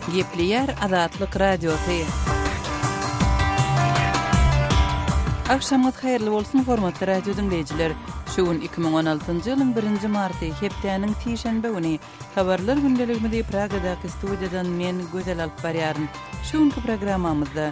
Gepleýär Azatlyk Radiosy. Agşamyňyz haýyrly bolsun, hormatly radio diňleýjiler. Şu gün 2016-njy ýylyň 1-nji marty, hepdäniň sişenbe güni. Habarlar gündeligimizi Pragadaky studiýadan men Gözel alyp barýaryn. Şu günki programmamyzda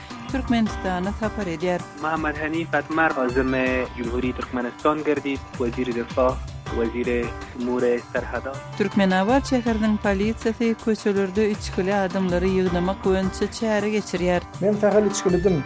Türkmenistana sapar edýär. Muhammad Hanif Atmar özümi Jumhuriýet Türkmenistan gerdip, weziri difah, weziri umure serhada. Türkmenabat şäheriniň polisiýasy köçelerde içgili adamlary ýygnamak boýunça çäre geçirýär. Men sähel içgilidim.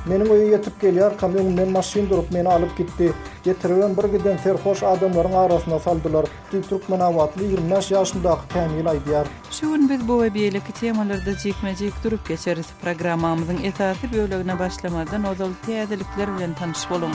Meniň öýe ýetip gelýärkäm öňümden maşyn durup meni alyp gitdi. Getiribem bir giden serhoş adamlaryň arasyna saldylar, diýip türkmenabatly ýigrimi bäş ýaşyndaky Kämil aýdýar. Şu gün biz bu we beýleki temalarda jikme-jik durup geçeris. Programmamyzyň esasy bölegine başlamazdan ozal täzelikler bilen tanyş boluň.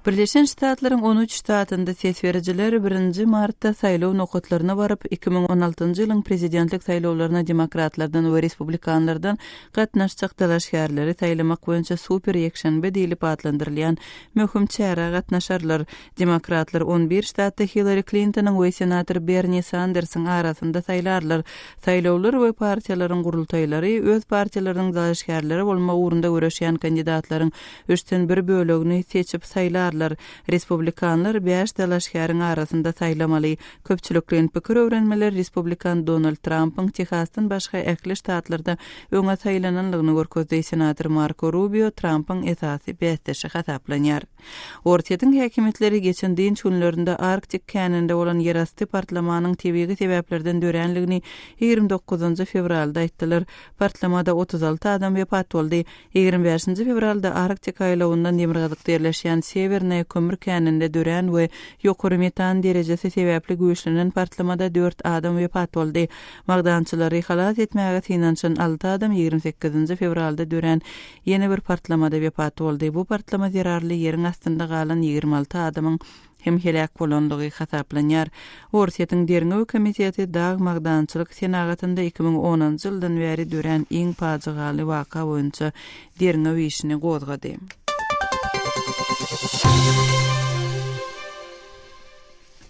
Birleşen Ştatlaryň on üç ştatynda ses berijiler birinji martda saýlaw nokatlaryna baryp, iki müň on altynjy ýylyň prezidentlik saýlawlaryna demokratlardan we respublikanlardan gatnaşjak dalaşgärleri saýlamak boýunça super ýekşenbe diýlip atlandyrylýan möhüm çärä gatnaşarlar. Demokratlar on bir ştatda Hillary Klintonyň we senator Berni Sandersiň arasynda saýlarlar. Saýlawlar we partiýalaryň gurultaýlary öz partiýalarynyň dalaşgärleri bolmak ugrunda göreşýän kandidatlaryň üçden bir bölegini seçip saýlarlar. Respublikanlar bäş dalaşgäriň arasynda saýlamaly. Köpçülikleýin pikir öwrenmeler respublikan Donald Trampyň Tehasdan başga ähli ştatlarda öňe saýlananlygyny görkezdi. Senator Marko Rubio Trampyň esasy bäsdeşi hasaplanýar. Orsýetiň häkimiýetleri geçen dynç günlerinde Arktik käninde bolan ýerasty partlamanyň tebigy sebäplerden dörändigini ýigrimi dokuzynjy fewralda aýtdylar. Partlamada otuz alty adam wepat boldy. Ýigrimi bäşinji fewralda Arktik aýlawyndan demirgazykda ýerleşýän Sewernaýa kömür käninde dörän we ýokary metan derejesi sebäpli güýçlenen partlamada dört adam wepat boldy. Magdançylary halas etmäge synanyşan alty adam ýigrimi sekizinji fewralda dörän ýene bir partlamada wepat boldy. Bu partlama zerarly ýeriň astynda galan ýigrimi alty adamyň hem heläk bolandygy hasaplanýar. Orsýetiň Derňew komiteti dag magdançylyk senagatynda iki müň onunjy ýyldan bäri dörän iň pajygaly waka boýunça derňew işini gozgady.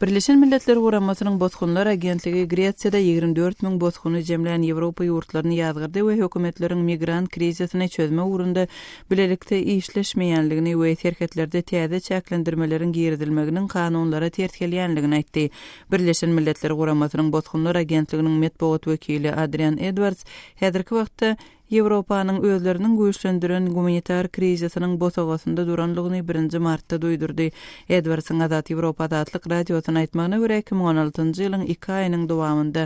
Birleşen Milletler Guramasynyň Bosgunlar agentligi Gresiýada ýigrimi dört müň bosguny jemlän Ýewropa ýurtlaryny ýazgardy we hökümetleriň migrant krizisini çözmek ugrunda bilelikde işleşmeýänligini we serhetlerde täze çäklendirmeleriň girizilmeginiň kanunlara ters gelýänligini aýtdy. Birleşen Milletler Guramasynyň Bosgunlar agentliginiň metbugat wekili Adrian Edwards häzirki wagtda Ýewropanyň özleriniň güýçlendiren gumanitar krizisiniň bosagasynda duranlygyny birinji martda duýdurdy. Edwardsyň Azat Ýewropa Azatlyk Radiosyna aýtmagyna görä, iki müň on altynjy ýylyň iki aýynyň dowamynda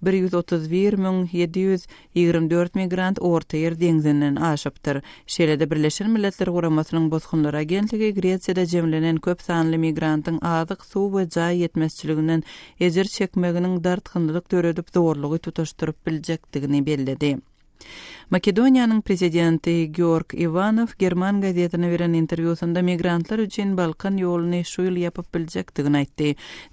bir ýüz otuz bir müň ýedi ýüz ýigrimi dört migrant Ortaýer deňzinden aşypdyr. Şeýle-de Birleşen Milletler Guramasynyň Bosgunlar agentligi Gresiýada jemlenen köp sanly migrantyň azyk suw we jaý ýetmezçiliginden ejir çekmeginiň dartgynlylyk döredip zorlugy tutaşdyryp biljekdigini belledi. Makedoniýanyň Prezidenti Georg Iwanow german gazetine beren interwýusynda migrantlar üçin Balkan ýoluny şu ýyl ýapyp biljekdigini aýtdy.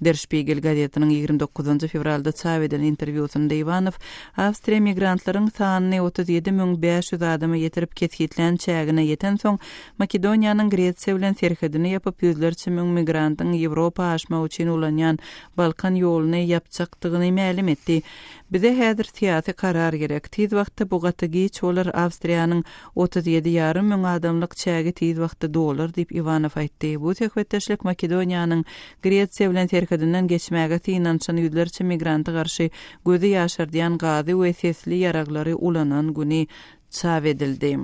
Der Şpigel gazetiniň ýigrimi dokuzynjy fewralda çap eden interwýusynda Iwanow Awstriýa migrantlaryň sanyny otuz ýedi müň bäş ýüz adama ýetirip kesgitlän çägine ýetensoň Makedoniýanyň Gresiýa bilen serhedini ýapyp, ýüzlerçe müň migrantyň Ýewropa aşmagy üçin ulanýan Balkan ýoluny ýapjakdygyny mälim etdi. Bize häzir syýasy karar gerek. Tiz wagtda bu gaty giç bolar, Awstriýanyň otuz ýedi ýarym müň adamlyk çägi tiz wagtda dolar diýip Iwanow aýtdy. Bu söhbetdeşlik Makedoniýanyň Gresiýa bilen serhedinden geçmäge synanyşan ýüzlerçe migranta garşy gözi ýaşardýan gazy we sesli ýaraglary ulanan güni çap edildi.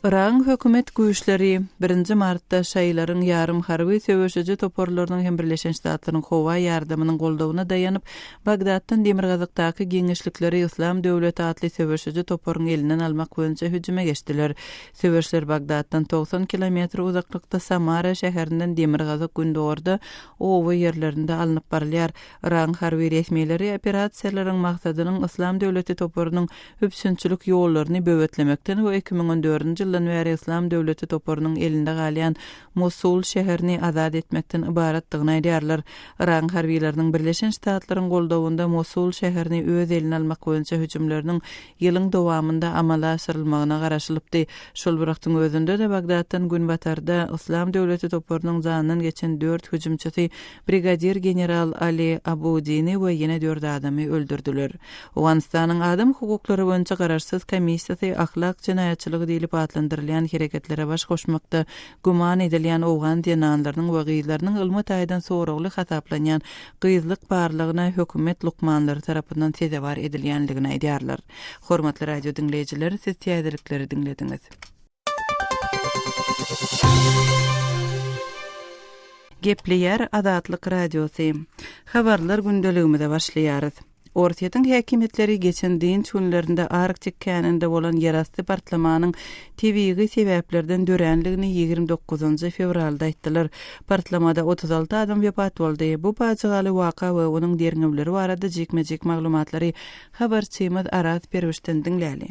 Yragyň hökümet güýçleri birinji martda şaýylaryň ýarym harby söweşiji toparlarynyň hem Birleşen Ştatlaryň howa ýardamynyň goldawyna daýanyp, Bagdatdan demirgazykdaky giňişlikleri Yslam döwleti atly söweşiji toparyň elinden almak boýunça hüjüme geçdiler. Söweşler Bagdatdan togsan kilometr uzaklykda Samara şäherinden demirgazyk-gündogarda oba ýerlerinde alnyp barylýar. Yragyň harby resmileri operasiýalaryň maksadynyň Yslam döwleti toparynyň üpjünçilik ýollaryny böwetlemekden we iki müň on dördünji ýyldan bäri Yslam döwleti toparynyň elinde galýan Mosul şäherini azat etmekden ybaratdygyny aýdýarlar. Yragyň harbylarynyň Birleşen Ştatlaryň goldawynda Mosul şäherini öz eline almak boýunça hüjümleriniň ýylyň dowamynda amala aşyrylmagyna garaşylypdy. Şol bir wagtyň özünde-de Bagdatdan günbatarda Yslam döwleti toparynyň janyndan geçen dört hüjümçisi brigadir general Ali Abudini we ýene dört adamy öldürdiler. Owganystanyň Adam hukuklary boýunça garaşsyz komissiýasy ahlak jenaýatçylygy diýlip atlandyrylýan hereketlere baş goşmakda güman edilýän owgan zenanlarynyň we gyzlarynyň ylmy taýdan soragly hasaplanýan gyzlyk barlagyna hökümet lukmanlary tarapyndan sezewar edilýändigini aýdýarlar. Hormatly radio diňleýjiler, siz täzelikleri diňlediňiz. Gepleýär Azatlyk Radiosy. Habarlar gündeligimize başlaýarys. Orsýetiň häkimiýetleri geçen dynç günlerinde Arktik käninde bolan ýerasty partlamanyň tebigy sebäplerden dörändigini ýigrimi dokuzynjy fewralda aýtdylar. Partlamada otuz alty adam wepat boldy. Bu pajygaly waka we onuň derňewleri barada jikme-jik maglumatlary habarçymyz Aras Perwişden diňläli.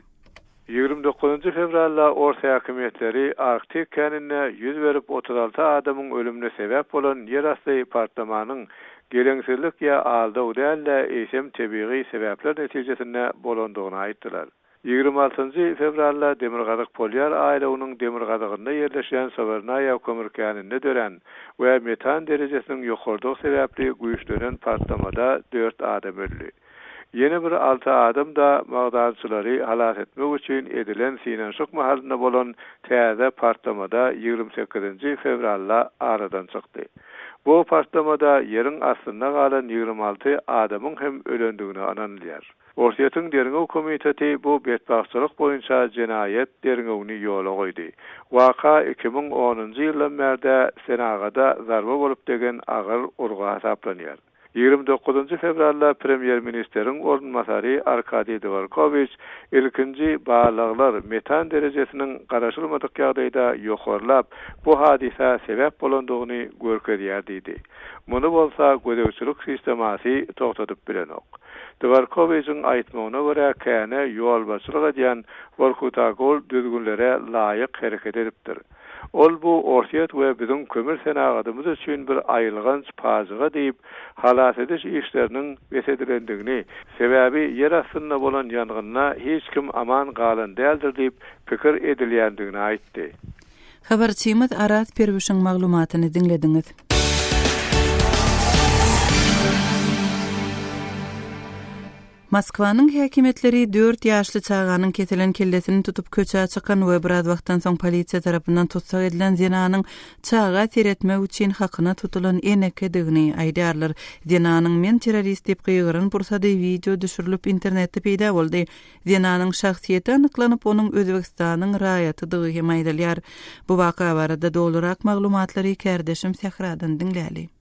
Ýigrimi dokuzynjy fewralda ors häkimiýetleri Arktik käninde ýüz berip otuz alty adamyň ölümine sebäp bolan ýerasty partlamanyň geleňsizlik ýa aldaw däl-de, eýsem tebigy sebäpler netijesinde bolandygyny aýtdylar. Ýigrimi altynjy fewralda Demirgazyk polýar aýlawynyň demirgazygynda ýerleşýän Sowernaýa kömür käninde dörän we metan derejesiniň ýokarydygy sebäpli güýçlenen partlamada dört adam öldi. Ýene bir alty adam-da magdançylary halas etmek üçin edilen synanyşyk mahalynda bolan täze partlamada ýigrimi sekizinji fewralda aradan çykdy. Bu partlamada ýeriň astynda galan ýigrimi alty adamyň hem ölendigine ynanylýar. Orsýetiň derňew komiteti bu betbagtçylyk boýunça jenaýat derňewini ýola goýdy. Waka iki müň onunjy ýyldan bärde senagada zarba bolup degen agyr urgy hasaplanýar. Ýigrimi dokuzynjy fewralda premýer-ministeriň orunbasary Arkadiý Dworkowiç ilkinji barlaglar metan derejesiniň garaşylmadyk ýagdaýda ýokarlap, bu hadysa sebäp bolandygyny görkezýär diýdi. Muny bolsa gözegçilik sistemasy togtadyp bilenok. Dworkowiçiň aýtmagyna görä, känä ýolbaşçylyk edýän Workutagol düzgünlere laýyk hereket edipdir. Ol bu Orsýet we biziň kömür senagatymyz üçin bir aýylganç pajyga diýip, halas ediş işleriniň bes edilendigini, sebäbi ýer astynda bolan ýangynda hiç kim aman galan däldir diýip pikir edilýändigini aýtdy. Habarçymyz Araz Perwişiň maglumatyny diňlediňiz. Moskwanyň häkimiýetleri dört ýaşly çaganyň kesilen kellesini tutup köçä çykan we biraz wagtdan soň polisiýa tarapyndan tussag edilen zenanyň çaga seretmek üçin hakyna tutulan enekedigini aýdýarlar. Zenanyň Men terrorist diýip gygyran pursady wideo düşürilip internetde peýda boldy. Zenanyň şahsyýeti anyklanyp, onuň Özbegistanyň raýatydygy hem aýdylýar. Bu waka barada dolurak maglumatlary kärdeşim Sähradan diňläli.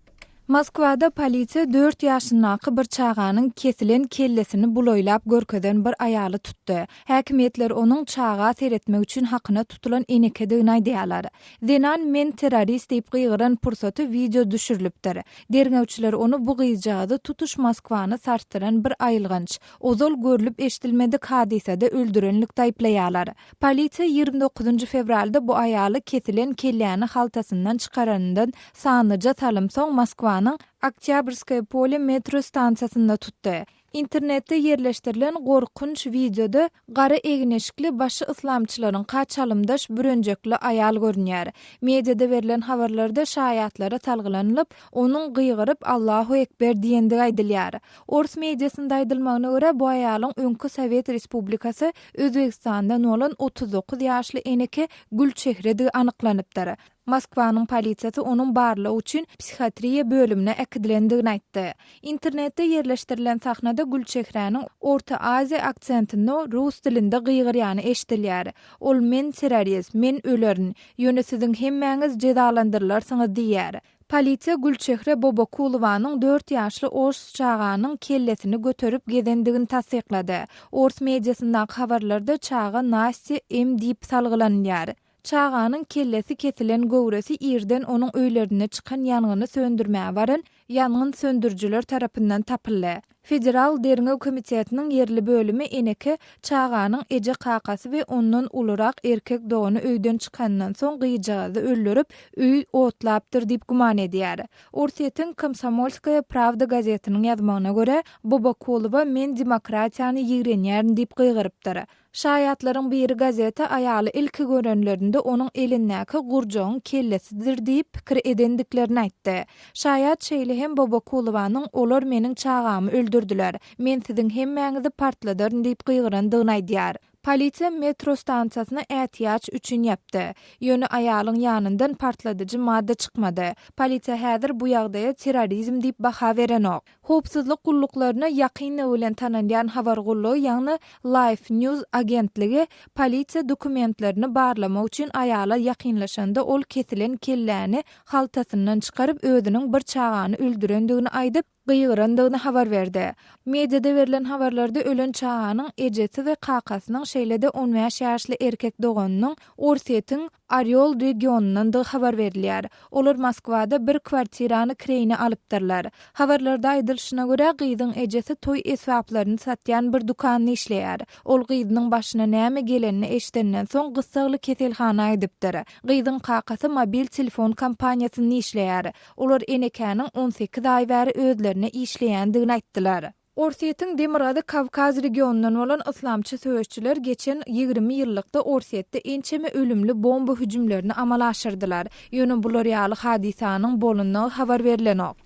Moskwada polisiýa dört ýaşyndaky bir çaganyň kesilen kellesini bulaýlap görkezen bir aýaly tutdy. Häkimiýetler onuň çaga seretmek üçin hakyna tutulan enekedigini aýdýarlar. Zenan Men terrorist diýip gygyran pursaty wideo düşürilipdir. Derňewçiler ony bu gyzjagazy tutuş Moskwany sarsdyran bir aýylganç, ozal görlüp-eşidilmedik hadysada öldürenlikde aýyplaýarlar. Polisiýa ýigrimi dokuzynjy fewralda bu aýaly kesilen kelläni haltasyndan çykaranyndan sanlyja salym soň Moskwanyň Oktýabrskoýe polýe metro stansiýasynda tutdy. Internetde ýerleşdirilen gorkunç wideoda gara egin-eşikli, başy yslamçylaryňka çalymdaş bürenjekli aýal görünýär. Mediada berlen habarlarda şaýatlara salgylanylyp, onuň gygyryp Allahu ekber diýendigi aýdylýar. Ors mediasynda aýdylmagyna görä, bu aýalyň öňki Sowet Respublikasy Özbegistandan bolan otuz dokuz ýaşly eneke Gülçehredigi anyklanypdyr. Moskwanyň polisiýasy onuň barlag üçin psihiatriýa bölümine äkidilendigini aýtdy. Internetde ýerleşdirilen sahnada Gülçehräniň Orta Aziýa aksentinde rus dilinde gygyrýany eşidilýär. Ol Men terrorist, men ölerin, ýöne siziň hemmäňiz jezalandyrylarsyňyz diýýär. Polisiýa Gülçehre Bobokulowanyň dört ýaşly ors çaganyň kellesini göterip gezendigini tassyklady. Ors mediasyndaky habarlarda çaga Nastýa M. diýip salgylanylýar. Çaganyň kellesi kesilen göwresi irden onuň öýlerinde çykan ýangyny söndürmäge baran ýangyn söndürijiler tarapyndan tapyldy. Federal derňew komitetiniň ýerli bölümi eneke çaganyň eje-kakasy we ondan ulurak erkek dogany öýden çykandan soň gyzjagazy öldürip, öýi otlapdyr diýip güman edýär. Orsýetiň Komsomolskaýa prawda gazetiniň ýazmagyna görä, Bobokulowa men demokratiýany ýigrenýärin diýip gygyrypdyr. Şaýatlaryň biri gazeti aýaly ilki görenlerinde onuň elindäki gurjagyň kellesidir diýip pikir edendiklerini aýtdy. Şaýat şeýle hem Bobokulowanyň Olar meniň çagamy öldürdiler, men siziň hemmäňizi partladaryn diýip gygyrandygyny aýdýar. Polisiýa metro stansiýasyny ätiýaç üçin ýapdy. Ýöne aýalyň ýanyndan partladyjy madda çykmady. Polisiýa häzir bu ýagdaýa terrorizm diýip baha berenok. Howpsuzlyk gulluklaryna ýakynlygy bilen tanalýan habar gullugy ýagny Life News agentligi polisiýa dokumentlerini barlamak üçin aýala ýakynlaşanda ol kesilen kelläni haltasyndan çykaryp özüniň bir çagany öldürendigini aýdyp gygyrandygyny habar berdi. Mediada berlen habarlarda ölen çaganyň ejesi we kakasynyň şeýle-de on bäş ýaşly erkek doganynyň Orsýetiň Orýol regionyndandygy habar berilýär. Olar Moskwada bir kwartirany kireýine alypdyrlar. Habarlarda aýdylyşyna görä, gyzyň ejesi toý esbaplaryny satýan bir dükanda işleýär. Ol gyzynyň başyna näme gelenini eşidenden soň gyssagly keselhana aýdypdyr. Gyzyň kakasy mobil telefon kompaniýasynda işleýär. Olar enekäniň on sekiz aý bäri özlerine işleýändigini aýtdylar. Orsýetiň Demirgazyk Kawkaz regionyndan bolan yslamçy söweşçiler geçen ýigrimi ýyllykda Orsýetde ençeme ölümli bomba hüjümlerini amala aşyrdylar. Ýöne bular ýaly hadysanyň bolandygy habar berlenok.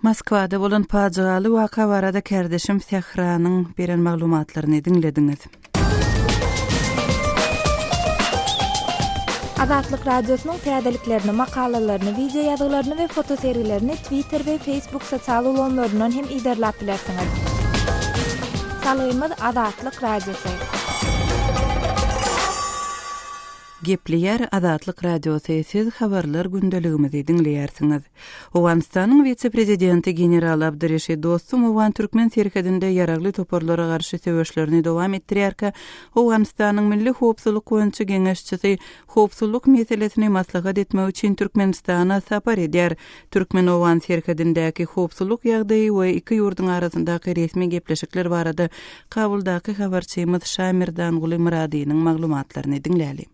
Moskwada bolan pajygaly waka barada kärdeşim Sähranyň beren maglumatlaryny diňlediňiz. Azatlyk Radiosynyň täzeliklerini, makalalaryny, wideo ýazgylaryny we foto sergilerini Twitter we Facebook sosial ulgamlaryndan hem yzarlap bilersiňiz. Salgymyz Azatlyk Radiosy. Gepleýär Azatlyk Radiosy. Siz habarlar gündeligimizi diňleýärsiňiz. Owganystanyň wise-prezidenti general Abdyreşid Dostum owgan-türkmen serhedinde ýaragly toparlara garşy söweşlerini dowam etdirýärkä, Owganystanyň Milli howpsuzlyk boýunça geňeşçisi howpsuzlyk meselesini maslahat etmek üçin Türkmenistana sapar edýär. Türkmen-owgan serhedindäki howpsuzlyk ýagdaýy we iki ýurduň arasyndaky resmi gepleşikler barada Kabuldaky habarçymyz Şamirdanguly Myradynyň maglumatlaryny diňläli.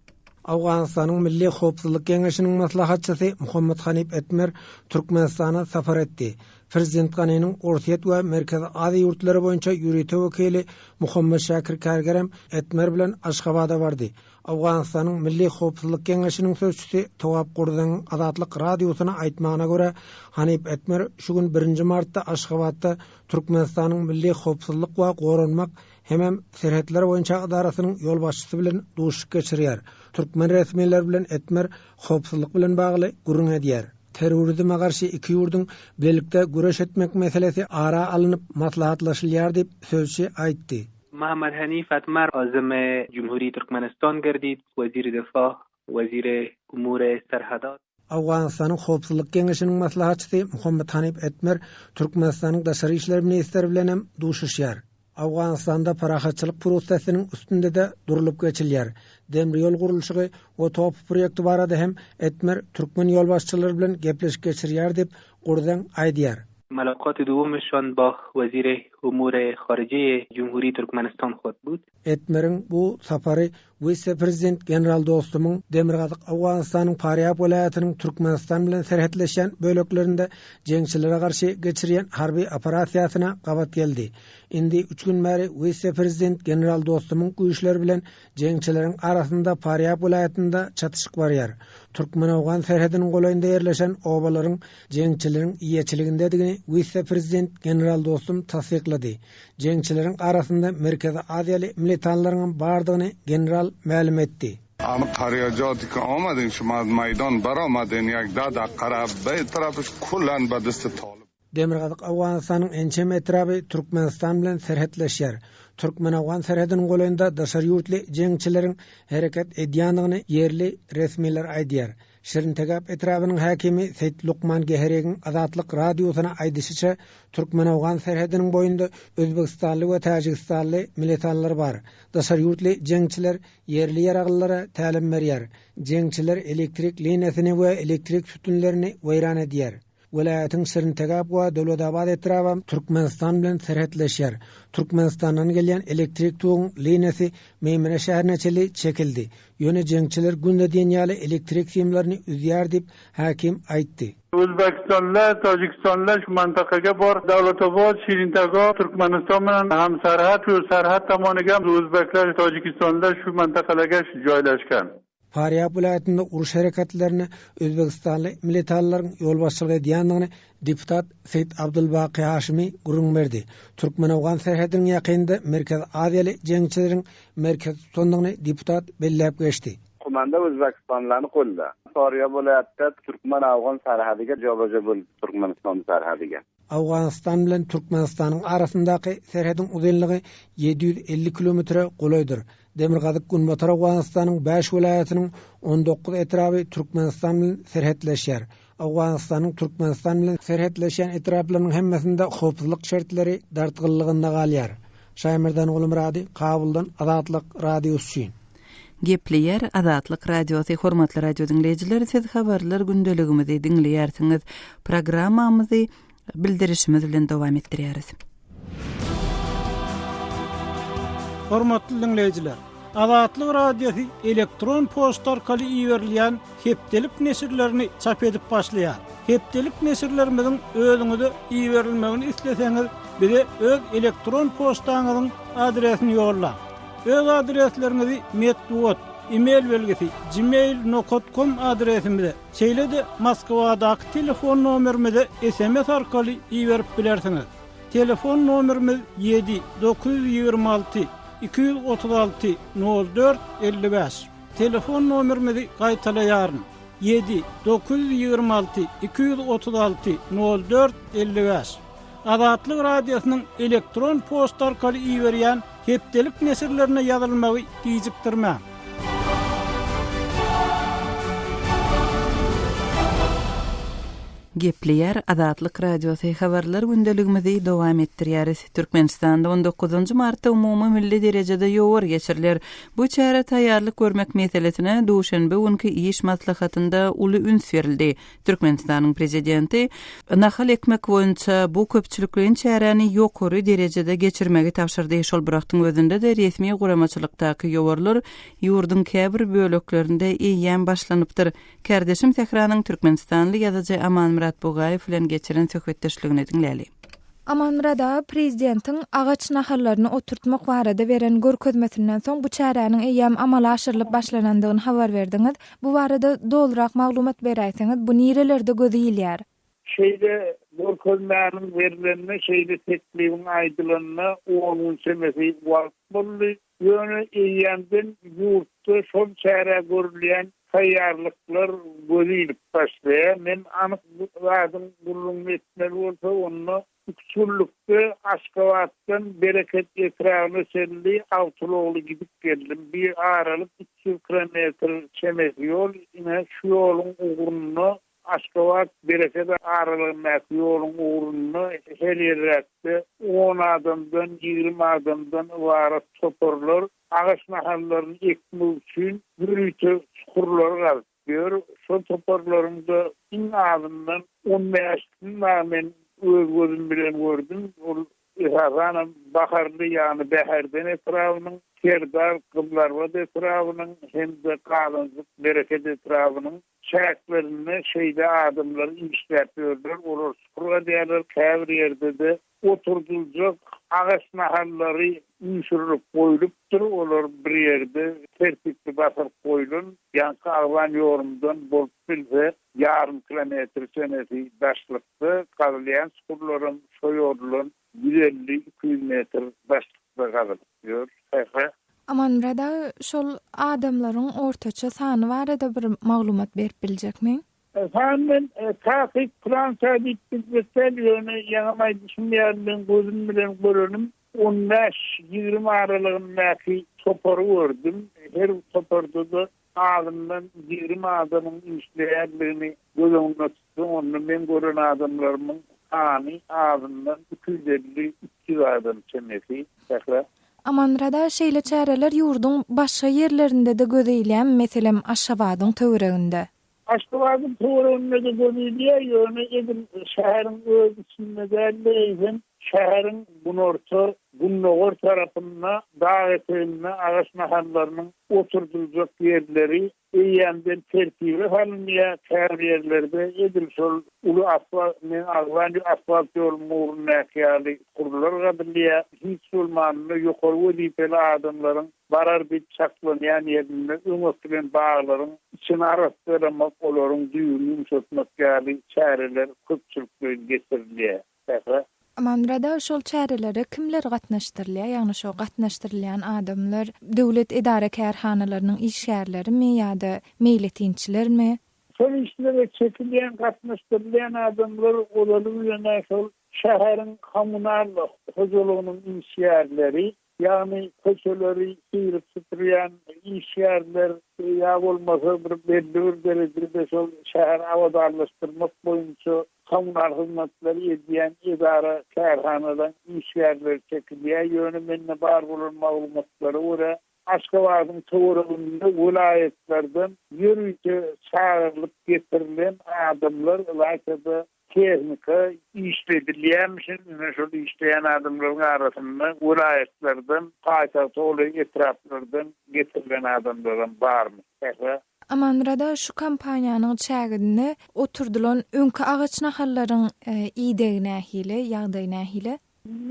Owganystanyň Milli howpsuzlyk geňeşiniň maslahatçysy Muhammad Hanip Etmer Türkmenistana sapar etdi. Prezident Ganiniň Orsýet we Merkezi Aziýa ýurtlary boýunça ýörite wekili Muhammad Şakir Kärgerem Etmer bilen Aşgabada bardy. Owganystanyň Milli howpsuzlyk geňeşiniň sözçüsi Towap Gurzaň Azatlyk Radiosyna aýtmagyna görä, Hanip Etmer şu gün birinji martda Aşgabatda Türkmenistanyň Milli howpsuzlyk we goranmak hemem Serhetler boýunça edarasynyň ýolbaşçysy bilen duşuşyk geçirýär, türkmen resmileri bilen etmer howpsuzlyk bilen bagly gürrüň edýär. Terrorizme garşy iki ýurduň bilelikde göreş etmek meselesi ara alnyp maslahatlaşylýar diýip, sözçi aýtdy. Mahmad Hanif Atmar özümi Jumhuri Türkmenistan gerdip, weziri defaa Weziri umure serhadat. Owganystanyň Howpsuzlyk geňeşiniň maslahatçysy Mohammad Hanip Etmer Türkmenistanyň Daşary işler ministri bilen hem duşuşýar. Owganystanda parahatçylyk prosesiniň üstünde-de durlup geçilýär. Demir ýol gurluşygy we TOPH proýekti barada hem Etmer türkmen ýolbaşçylary bilen gepleşik geçirýär diýip, Gurzen aýdýar. Mylakaty dowam etşan baş weziri umure harijiýe Jumhuri Türkmenistan Hotbut. Etmeriň bu sapary wise-prezident general Dostumyň Demirgazyk Owganystanyň Parýab welaýatynyň Türkmenistan bilen serhetleşýän böleklerinde jeňçilere garşy geçirýän harby operasiýasyna gabat geldi. Indi üç gün bäri wise-prezident general Dostumyň güýçleri bilen jeňçileriň arasynda Parýab welaýatynda çatyşyk barýar. Türkmen-owgan serhediniň golaýynda ýerleşen obalaryň jeňçileriň eýeçiligindedigini wise-prezident general Dostum tassyklady. Jeňçileriň arasynda Merkezi Aziýaly mlitanlaryňam bardygyny general mälim etdi. Amy parýodika omadyn şymaz maýdan bar omadyn ýag dada kara beý trapyş kulan badysty toly. Demirgazyk Owganystanyň ençeme etraby Türkmenistan bilen serhetleşýär. Türkmen-owgan serhediniň golaýynda daşary ýurtly jeňçileriň hereket edýändigini ýerli resmiler aýdýar. Şirintegap etrabynyň häkimi Seýit Lukman Geheregiň Azatlyk Radiosyna aýdyşyça, türkmen-owgan serhediniň boýunda özbegistanly we täjigistanly militanlar bar. Daşary ýurtly jeňçiler ýerli ýaraglylara tälim berýär. Jeňçiler elektrik liniýasyny we elektrik sütünlerini weýran edýär. Welaýatyň Şirintegap we Döwletabat etraby Türkmenistan bilen serhetleşýär. Türkmenistandan gelýän elektrik toguň liniýasy Meýmene şäherine çenli çekildi. Ýöne jeňçiler günde diýen ýaly elektrik simlerini üzýär diýip, häkim aýtdy. Özbegistanda, Tojikistanda, Şumantakage, Bor, Dawlatobod, Şirintagop, Türkmenistan bilen hamserhet we serhet tamany hem özbekler Tojikistanda Şumantakageş joýlaşgan. Farýap welaýatynda uruş hereketlerine özbegistanly militalylaryň ýolbaşçylyk edýändigini deputat Seýit Abdulbaky Haşimi gürrüň berdi. Türkmen-owgan serhediniň ýakynynda Merkezi Aziýaly jeňçileriň merkez tutandygyny deputat belläp geçdi. Komanda özbekistanlylarny golda. Farýap welaýatda türkmen-owgan serhediga jobaja bolup Türkmenistanyň serhediga. Owganystan bilen Türkmenistanyň arasyndaky serhediň uzynlygy ýedi ýüz elli kilometre golaýdyr. Demirgazyk-Günbatar Owganystanyň bäş welaýatynyň on dokuz etraby Türkmenistan bilen serhetleşýär. Owganystanyň Türkmenistan bilen serhetleşýän etraplarynyň hemmesinde howpsuzlyk şertleri dartgynlygynda galýar. Şaýmerdan Gulumyrady, Kabuldan, Azatlyk Radiosy üçin. Gepleýär Azatlyk Radiosy Hormatly radio diňleýjiler siz habarlar gündeligimizi diňleýärsiňiz. Programmamyzy bildirişimiz bilen dowam etdirýäris. Hormatly diňleýjiler, Azatlyk Radiosy elektron poçta arkaly iberilýän hepdelik neşirlerini çap edip başlaýar. Hepdelik neşirlerimiziň özüňize iberilmegini isleseňiz bize öz elektron poçtaňyzyň adresini ýollaň. Öz adresleriňizi metbugat, e-mail belgisi, gmail nokat kom adresimize, şeýle-de Moskwadaky telefon nomerimize sms arkaly iberip bilersiňiz. Telefon nomerimiz ýedi, dokuz ýüz ýigrimi alty, iki ýüz otuz alty, nol dört, elli bäş. Telefon nomerimizi gaýtalaýaryn, ýedi, dokuz ýüz ýigrimi alty, iki ýüz otuz alty, nol dört, elli bäş. Azatlyk Radiosynyň elektron poçta arkaly iberýän Hepdelik neşirlerine ýazylmagy gijikdirmäň! Gepleýär Azatlyk Radiosy, Habarlar gündeligimizi dowam etdirýäris. Türkmenistanda on dokuzynjy martda umumymilli derejede ýowar geçiriler. Bu çärä taýýarlyk görmek meselesine duşenbe günki iş maslahatynda uly üns berildi. Türkmenistanyň Prezidenti nahal ekmek boýunça bu köpçülikleýin çäräni ýokary derejede geçirmegi tabşyrdy. Şol bir wagtyň özünde-de resmi guramaçylykdaky ýowarlar ýurduň käbir böleklerinde eýýäm başlanypdyr. Kärdeşim Sähranyň türkmenistanly ýazyjy Amanmyrat Bugaýew bilen geçiren söhbetdeşligini diňläli. Amanmyrat aga, Prezidentiň agaç nahallaryny oturtmak barada beren görkezmesinden soň bu çäräniň eýýäm amala aşyrylyp başlanandygyny habar berdiňiz. Bu barada dolurak maglumat beräýseňiz bu nirelerde göze ilýär. Şeýle görkezmäniň berlenine şeýle teklibiň aýdylanyna on gün çemesi wagt boldy. Ýöne eýýämden ýurtda şol çärä görülýän taýýarlyklar göze ilip başlaýar. Men anyk zadyň gürrüňini etmeli bolsa onda Üpjünlikde Aşgabatdan Bereket etrabyna çenli awtoulagly gidip geldim. Bir aralyk üç ýüz kilometr çemesi ýol. Ine, şu ýoluň ugrunda, Aşgabat, Bereket aralygyndaky ýoluň ugrunda her ýerräkde on adamdan, ýigrimi adamdan ybarat toparlar agaç nahallaryny ekmek üçin ýörite çukurlar gazyp, Gör, şol toparlaryň-da iň azyndan on bäşisini dagy men öz gözüm bilen gördüm. Ol, esasanam, Baharly, ýagny Bäherden etrabynyň, Serdar, Gyzylarbat etrabynyň hem-de Galanjyk, Bereket etrabynyň çäklerinde şeýle adamlar işläp ýörler. Olar çukur gazýarlar, käbir ýerde-de Oturdyljak agaç nahallary üýşürilip goýlupdyr, olar bir ýerde tertipli basylyp goýlan. Ýaňky agzan ýorumdan bolup bilse, ýarym kilometr çemesi daşlykda gazylýan çukurlaram şo ýordan ýüz elli, iki ýüz metr daşlykda gazylyp ýör. He-he. Amanmyrat aga, şol adamlaryň ortaça sany barada bir maglumat berip biljekmiň? Jan men takyk plança diýip bilmekdäl, ýöne ýaňy maýdyşym ýaly men gözüm bilen görenim on bäş, ýigrimi aralygyndaky topary gördüm. Her toparda-da azyndan ýigrimi adamyň işleýändigini göz öňüne tutsaň, onda men gören adamlarymyň sany azyndan iki ýüz elli, üç ýüz adam çemesi sähra. Amanrada şeýle çäreler ýurduň başga ýerlerinde-de göze ilýämi, meselem Aşgabadyň töwereginde? Aşgabadyň töwereginde-de göz ilýär, ýöne edil şäheriň öz içinde däl-de, eýsem, şäheriň günorta, gündogar tarapynda, dag eteginde agaç nahallarynyň oturdyljak ýerleri eýýämden tertibe salynýar, käbir ýerlerde edil şol uly asfalt, men agzan asfalt ýoluň mugrundaky ýaly, surlar gazylýar, hiç bolmanda, ýokary wezipeli adamlaryň Barar diýip çaklanýan ýerinde öň ekilen baglaryň içini arassalamak, olaryň düýbüni ýumşatmak ýaly çäreler köpçülikleýin geçirilýär. Sähra. Amanmyrada şol çärelere kimler gatnaşdyrylýar? Ýagny şo gatnaşdyrylýan adamlar döwlet edara-kärhanalarynyň işgärlerimi ýa-da meýletinçilermi? Şol işlere çekilýän, gatnaşdyrylýan adamlar olaly bilen-ä şol şäheriň kommunal hojalygynyň işgärleri, Ýagny köçeleri syryp süpürýän işgärler ýa bolmasa bir belli bir derejede şol şäheri abadanlaşdyrmak boýunça kommunal hyzmatlary edýän edara kärhanalaryň işgärleri çekilýär. Ýöne mende bar bolan maglumatlara görä Aşgabadyň töwereginde welaýatlardan ýörite çagyrylyp getirilen adamlar ylajada Tehnika işde edilýärmişin, ine şol işleýän adamlaryň arasynda welaýatlardan, paýtagta golaý etraplardan getirilen adamlaram barmyş sähra. Amanmyrada şu kompaniýanyň çäginde oturdylan öňki agaç nahallaryň idegi nähili, ýagdaýy nähili?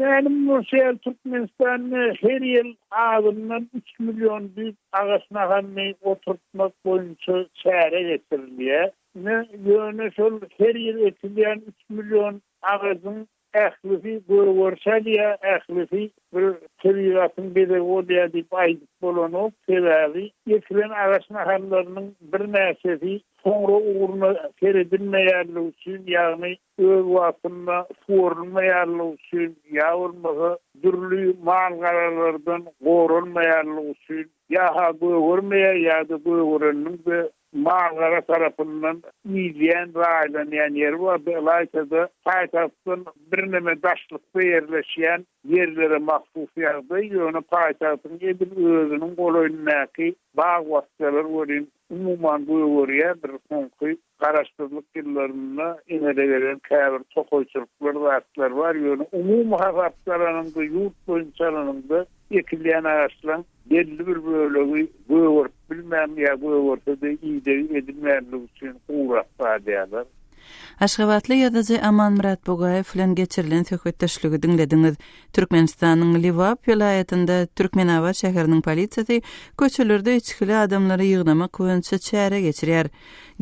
Mälim bolşy ýaly, Türkmenistanda her ýyl azyndan üç million düýp agaç nahalyny oturtmak boýunça çäre geçirilýär. Ine, ýöne şol her ýyl ekilýän üç million agajyň ählisi gögeri salýar, ählisi bir tebigatyň bezegi bolýar diýip aýdyp bolanok. Sebäbi ekilen agaç nahallarynyň birnäçesi soňra ugruna seredilmeýänligi üçin, ýagny öz wagtynda suwarylmaýanlygy üçin ýa bolmasa dürli mal-garalardan goralmaýanlygy üçin ýa-ha gögermeýär ýa-da gögereniniň-de Mal-gara tarapyndan idýän, raýlanýan ýeri bardy, ylaýta-da paýtagtdan birneme daşlykda ýerleşýän ýerlere mahsus ýagdaý, ýöne paýtagtyň edil özüniň golaýyndaky bag-bakjalar welin, umuman, gögerýär, bir soňky garaşsyzlyk ýyllarynda emele gelen käbir tokaýçylyklar, zatlar bar, ýöne umumy hasapda alanyňda, ýurt boýunça alanyňda ekilýän agaçlaryň, belli bir bölegi gögerip bilmän ýa gögerse-de idegi edilmänligi üçin gurak galýarlar. Aşgabatly ýazyjy Amanmyrat Bugaýew bilen geçirilen söhbetdeşligi diňlediňiz. Türkmenistanyň Lebap welaýatynda Türkmenabat şäheriniň polisiýasy köçelerde içgili adamlary ýygnamak boýunça çäre geçirýär.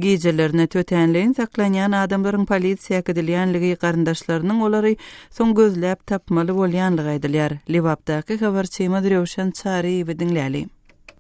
Gijelerine tötänleýin saklanýan adamlaryň polisiýa äkidilýänligi, garyndaşlarynyň olary soň gözläp tapmaly bolýanlygy aýdylýar. Lebapdaky habarçymyz Röwşen Çaryýewi diňläli.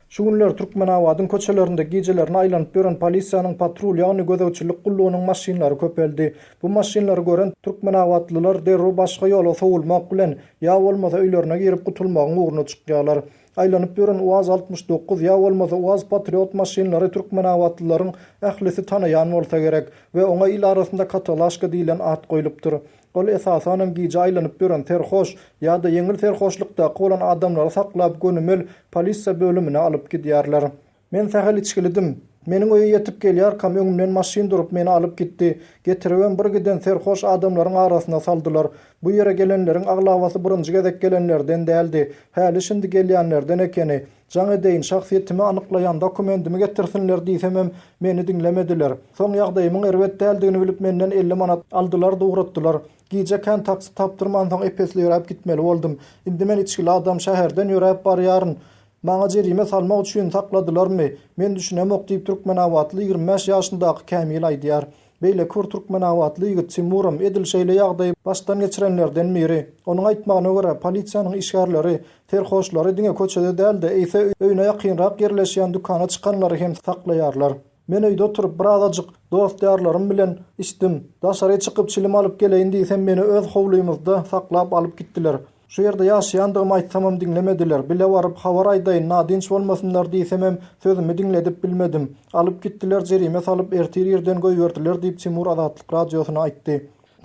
Şu günler Türkmenabadyň köçelerinde gijelerine aýlanyp ýören polisiýanyň patrul, ýagny gözegçilik gullugynyň maşynlary köpeldi. Bu maşynlary gören türkmenabatlylar derrew başga ýola sowulmak bilen, ýa bolmasa öýlerine girip gutulmagyň ugruna çykýarlar. Aýlanyp ýören Uaz altmyş dokuz ýa bolmasa Uaz Patriot maşynlary türkmenabatlylaryň ählisi tanaýan bolsa gerek we oňa il arasynda katalaşka diýlen at goýlupdyr. Ol esasanam gije aýlanyp ýören serhoş ýa-da ýeňil serhoşlykdaky bolan adamlary saklap gönümel polisiýa bölümine alyp gidýärler. Men sähel içgilidim. Meniň öýe ýetip gelýärkäm öňümden maşyn durup meni alyp gitdi. Getiribem bir giden serhoş adamlaryň arasyna saldylar. Bu ýere gelenleriň aglabasy birinji gezek gelenlerden däldi. Häli-şindi gelýänlerden ekeni. Jaň edeýin, şahsyýetimi anyklaýan dokumendimi getirsinler diýsemem, meni diňlemediler. Soň ýagdaýymyň erbet däldigini bilip menden elli manat aldylar-da ugratdylar. Gije kän taksi tapdyrmansoň epesleýräp gitmeli boldum. Indi men içgili adam şäherden ýöräp barýaryn. Maňa jerime salmak üçin sakladylarmy, men düşünemok diýip türkmenabatly ýigrimi bäş ýaşyndaky Kämil aýdýar. Beýleki bir türkmenabatly ýigit Timuram edil şeýle ýagdaýy başdan geçirenlerden biri. Onuň aýtmagyna görä, polisiýanyň işgärleri serhoşlary diňe köçede däl-de, eýse öýüne ýakynrak ýerleşýän dükana çykanlary hem saklaýarlar. Men öýde oturyp birazajyk dost-ýarlarym bilen içdim. Daşary çykyp çilim alyp geleýin diýsem meni öz howlymyzda saklap alyp gitdiler. Şu ýerde ýaşaýandygymy aýtsamam diňlemediler. Bile baryp habar aýdaýyn nadynç bolmasynlar diýsemem sözümi diňledip bilmedim. Alyp gitdiler jerime salyp ertir irden goýberdiler diýip Timur Azatlyk Radiosyna aýtdy.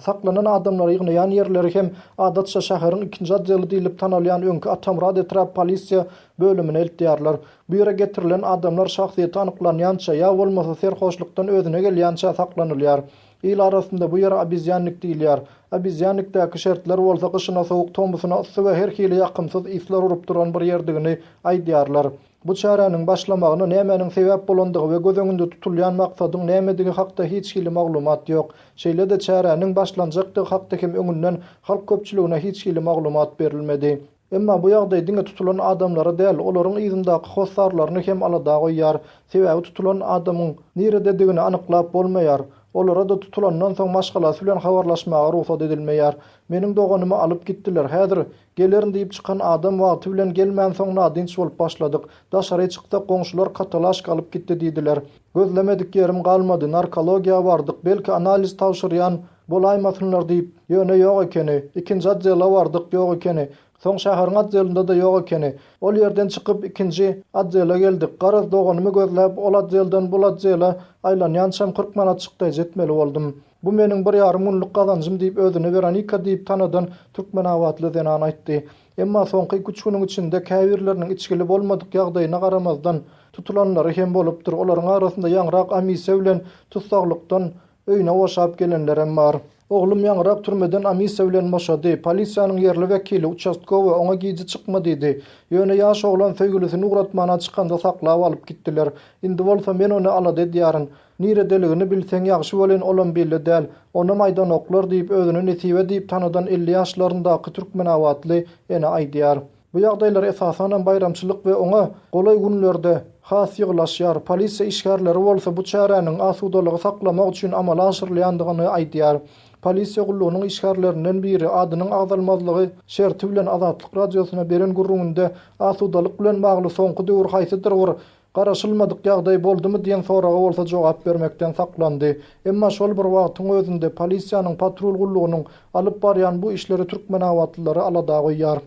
Saklanan adamlary ýygnaýan ýerleri hem adatça şäheriň ikinji odeli diýlip tanalýan öňki Atamyrat etrap polisiýa bölümine eltýärler. Bu ýere getirilen adamlar şahsyýeti anyklanýança ýa bolmasa serhoşlukdan özüne gelýänçä saklanylýar. Il arasynda bu ýere obezýannik diýilýär. Obezýannikdäki şertler bolsa gyşyna sowuk, tomusyna yssy we her hili ýakymsyz yslar urup duran bir ýerdigini aýdýarlar. Bu çäräniň başlamagyna nämäniň sebäp bolandygy we göz öňünde tutulýan maksadyň nämedigi hakda hiç hili maglumat ýok. Şeýle-de çäräniň başlanjakdygy hakda hem öňünden halk köpçüligine hiç hili maglumat berilmedi. Emma bu ýagdaý diňe tutulan adamlary däl, olaryň yzyndaky hossarlaryny hem alada goýýar. Sebäbi tutulan adamyň nirededigini anyklap bolmaýar. Olara-da tutulandan soň maşgalasy bilen habarlaşmaga rugsat edilmeýär. Meniň doganymy alyp gitdiler, häzir Gelerin diýip çykan adam wagty bilen gelmänsoň nadynç bolup başladyk. Daşary çyksak goňşular katalaşka alyp gitdi diýdiler. Gözlemedik ýerim galmady, narkologiýa bardyk, belki analiz tabşyrýan bolaýmasynlar diýip, ýöne ýok ekeni. Ikinji otdela bardyk, ýok ekeni. Soň şäheriň otdelinde-de ýok ekeni. Ol ýerden çykyp ikinji otdela geldik. Garaz doganymy gözläp ol otdelden bul otdela aýlanýançam kyrk manat çykdaýjy etmeli boldum. Bu meniň bir ýarym günlük gazanjym diýip, özüni Weronika diýip tanadan türkmenabatly zenan aýtdy. Emma soňky iki-üç günüň içinde käbirleriniň içgili bolmadyk ýagdaýyna garamazdan, tutulanlary hem bolupdyr. Olaryň arasynda ýaňyrak Amise bilen tussaglykdan öýüne boşap gelenlerem bar. Oglum ýaňyrak türmeden Amise bilen boşady. Polisiýanyň ýerli wekili, uçastkowy, oňa gije çykma diýdi. Ýöne ýaş oglan söýgülisini ugratmana çykanda saklap alyp gitdiler. Indi bolsa men ony alada edýärin. Niredeligini bilseň ýagşy welin olam bille däl. Onam aýdanoklar diýip özüni Nesibe diýip tanadan elli ýaşlaryndaky türkmenabatly ene aýdýar. Bu ýagdaýlar esasanam baýramçylyk we oňa golaý günlerde has ýygylaşýar. Polisiýa işgärleri bolsa bu çäräniň asudalygy saklamak üçin amala aşyrylýandygyny aýdýar. Polisiýa gullugynyň işgärlerinden biri adynyň agzalmazlygy şerti bilen Azatlyk Radiosyna beren gürrüňinde asudalyk bilen bagly soňky döwür haýsydyr bir Garaşylmadyk ýagdaý boldumy diýen soraga bolsa jogap bermekden saklandy. Emma şol bir wagtyň özünde polisiýanyň patrul gullugynyň alyp barýan bu işleri türkmenabatlylary alada goýýar.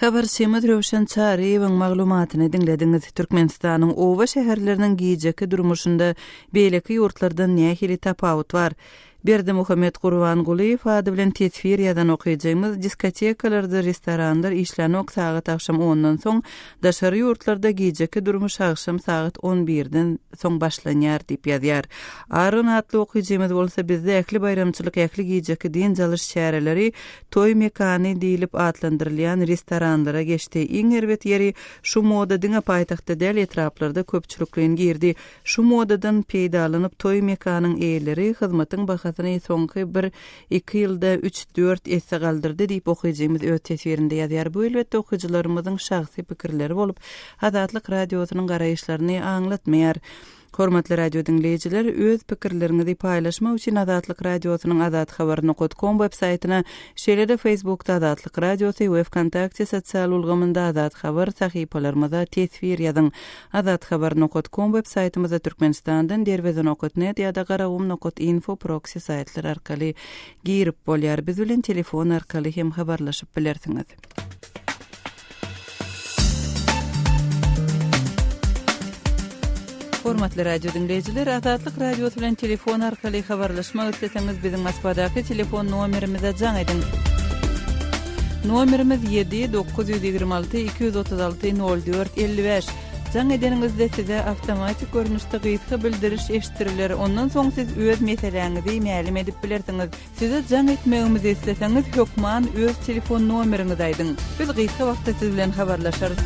Habarçymyz Röwşen Çaryýewiň maglumatyny diňlediňiz. Türkmenistanyň oba-şäherleriniň gijeki durmuşynda beýleki ýurtlardan nähili tapawut bar? Berdimuhamet Gurbangulyýew ady bilen teswir ýazan okyjymyz, Diskotekalardyr restoranlar işlänok sagat agşam ondan soň, daşary ýurtlarda gijeki durmuş agşam sagat on birden soň başlanýar diýip ýazýar. Aron atly okyjymyz bolsa bizde ähli baýramçylyk ähli gijeki dynç alyş çäreleri toý mekany diýlip atlandyrylýan restoranlara geçdi. Iň erbet ýeri şu moda diňe paýtagtda däl etraplarda köpçülikleýin girdi. Şu modadan peýdalanyp toý mekanyň eýeleri hyzmatyň bahasyny soňky bir, iki ýylda üç, dört esse galdyrdy diýip okyjymyz öz teswirinde ýazýar. Bu elbetde okyjylarymyzyň şahsy pikirleri bolup, Azatlyk Radiosynyň garaýyşlaryny aňlatmaýar. Hormatly radiodiňleýjiler, öz pikirleriňizi paýlaşmak üçin Azatlyk Radiosynyň Azat Habar nokat kom web saýtyna, şeýle-de Feýsbukda Azatlyk Radiosy we Wkontakte sosial ulgamynda Azat Habar sahypalarymyza teswir ýazyň. Azat Habar nokat kom web saýtymyzda Türkmenistandan Derweze nokat net ýa-da Garagum nokat info proksi saýtlary arkaly girip bolýar. Biz bilen telefon arkaly hem habarlaşyp bilersiňiz. Hormatly radio diňleýjiler, Azatlyk Radiosy bilen telefon arkaly habarlaşmak isleseňiz, biziň Moskwadaky telefon nomerimize jaň ediň. Nomerimiz ýedi, dokuz ýüz ýigrimi alty, iki ýüz otuz alty, nol dört, elli bäş. Jaň edeniňizde size awtomatik görnüşde gysga bildiriş eşitdiriler, ondan soň siz öz meseläňizi mälim edip bilersiňiz. Size jaň etmegimizi isleseňiz, hökman öz telefon nomeriňizi aýdyň. Biz gysga wagtda siz bilen habarlaşarys.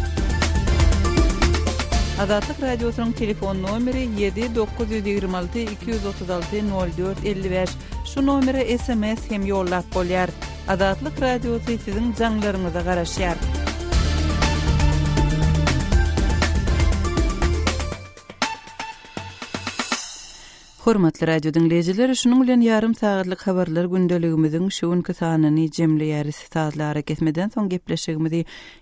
Azatlyk Radiosynyň telefon nomeri ýedi, dokuz ýüz ýigrimi alty, iki ýüz otuz alty, nol dört, elli bäş. Şu nomere sms hem ýollap bolýar. Azatlyk Radiosy siziň jaňlaryňyza garaşýar. Hormatly radio diňleýjiler, şunuň bilen ýarym sagatlyk habarlar gündeligimiziň şu günki sanyny jemleýäris. Sazlara kesmeden soň gepleşigimizi